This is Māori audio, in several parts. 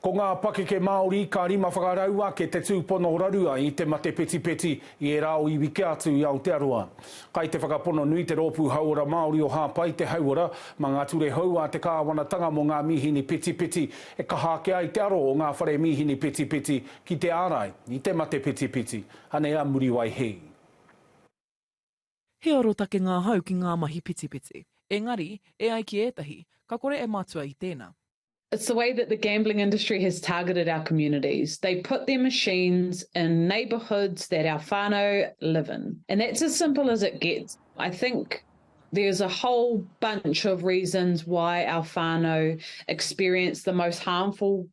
Ko ngā pakeke Māori ka rima whakarau ake te tūpono rarua i te mate petipeti i ērā o iwi kē atu i Aotearoa. Kai te whakapono nui te Rōpū Hauora Māori o Hāpai te hauora mā ngā ture hou a te kāwanatanga mō ngā mīhini petipeti e kaha ake ai te aro o ngā whare mīhini petipeti ki te ārai i te mate petipeti. Anei a Muriwai Hī. He arotake ngā hau ki ngā mahi pitipiti. Engari, e ai ki ētahi, ka kore e matua i tēnā. It's the way that the gambling industry has targeted our communities. They put their machines in neighbourhoods that our whānau live in. And that's as simple as it gets. I think there's a whole bunch of reasons why our whānau experience the most harmful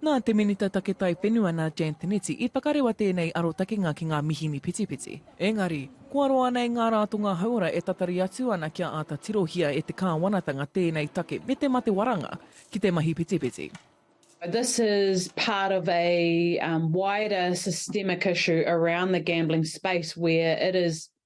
Nā te Minita Take Taiwhenua nā Jan Tinetti i whakarewa tēnei arotakenga ki ngā mihini pitipiti. Engari, kua roa nei ngā rātonga hauora e tatari atu ana kia āta tirohia e te Kāwanatanga tēnei take me te mate waranga ki te mahi pitipiti. This is part of a wider systemic issue around the gambling space where it is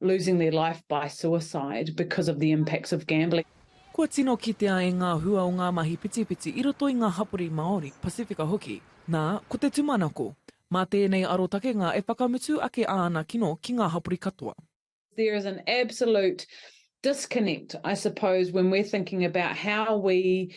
losing their life by suicide because of the impacts of gambling. Kua tino kitea e ngā hua o ngā mahi whitiwhiti i roto i ngā hapori Māori, Pasifika hoki, nā, ko te tumanako. Mā tēnei arotakenga e whakamutu ake āna kino ki ngā hapori katoa. There is an absolute disconnect, I suppose, when we're thinking about how we